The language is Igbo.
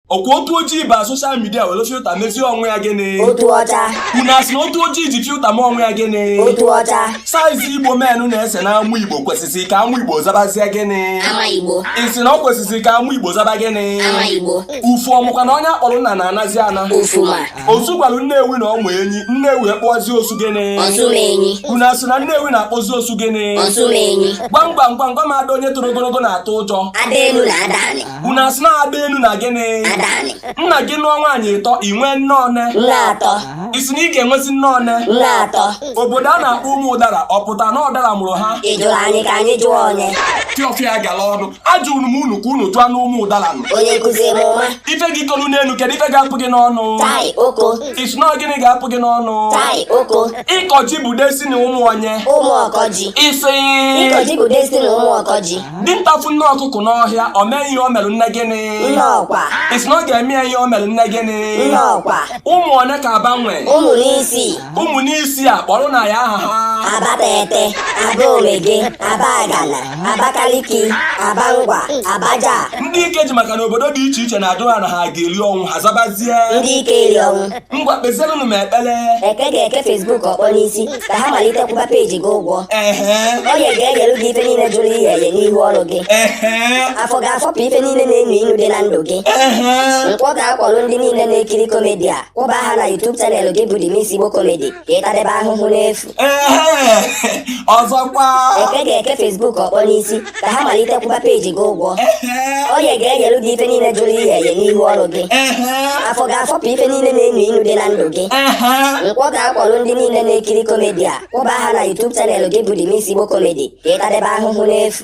ọkwa otu ojii ba social media were filter mezie onwe ya gịnị otu ọcha unu asị na otu ojii ji filter mee onwe ya gịnị otu ọcha size igbo menụ na-ese na amụ igbo kwesịsị ka amụ igbo zabazie gịnị ama igbo ị sị na ọ kwesịsị ka amụ igbo zaba gịnị ama igbo ufu ọmụkwa na onye a kpọrọ nna na-anazi ana ufuma osu gwara nnewi na ọ mụ enyi nnewi akpọzi osu gịnị osumenyi unu asị na nnewi na-akpọzi osu gịnị osumenyi gwam gwam gwam gwam ada onye toro ogologo na-atụ ụjọ ada elu na ada anị unu asị na ada elu na gịnị nna gị nụọ nwaanyị ịtọ i nwee nne one ị sị na ị ga-enwezi nne one obodo a na-akpọ ụmụ ụdara ọ pụta na ụdara mụrụ ha fiọfịa gara ọnụ ajụrụ m unu ka unu jụọ na ụmụ ụdara nụ ife gị tolu n'elu kedu ife ga-apụ gị n'ọnụ ị sị na gịnị ga-apụ gị n'ọnụ ịkọ ji bụ destiny ụmụ onye ị sị dinta fụ nne ọkụkọ n'ọhịa o mee ihe o mere nne gịnị Nnọkwa. ị sị na ọ ga-eme ya ihe o mere nne gịnị Nnọkwa. ụmụ one ka Aba nwee Ụmụ n'isii. ụmụ n'isii a kpọrọ na ya aha ha Abatete, Abaomege, Abagana, Abakaliki, Abangwa, Abaja. ndị ike ji maka na obodo dị iche iche na-ajụ ha na ha ga-eri ọnwụ ha zabazie Ndị ike eri ọnwụ. ngwa kpezienụ m ekpere eke ga-eke Facebook ọkpọ n'isi ka ha malite kwụba page gị ụgwọ ehe oye ga-eyere gị ife niile jụrụ iye eye n'ihu ọrụ gị ehe afọ ga-afọpụ ife niile na-enu inu dị na ndụ gị ehe nkwọ ga-akwọrọ ndị niile na-ekiri comedy a kwụba ha na YouTube channel gị bụ The Mix Igbo Comedy ka ị tadebe ahụhụ n'efu ọzọkwa eke ga-eke Facebook ọkpọ n'isi ka ha malite kwụba page gị ụgwọ oye ga-eyere gị ife niile jụrụ iye eye n'ihu ọrụ gị afọ ga-afọpụ ife niile na-enu inu dị na ndụ gị nkwọ ga-akwọrọ ndị niile na-ekiri comedy a kwụba ha na YouTube channel gị bụ The Mix Igbo Comedy ka ị tadebe ahụhụ n'efu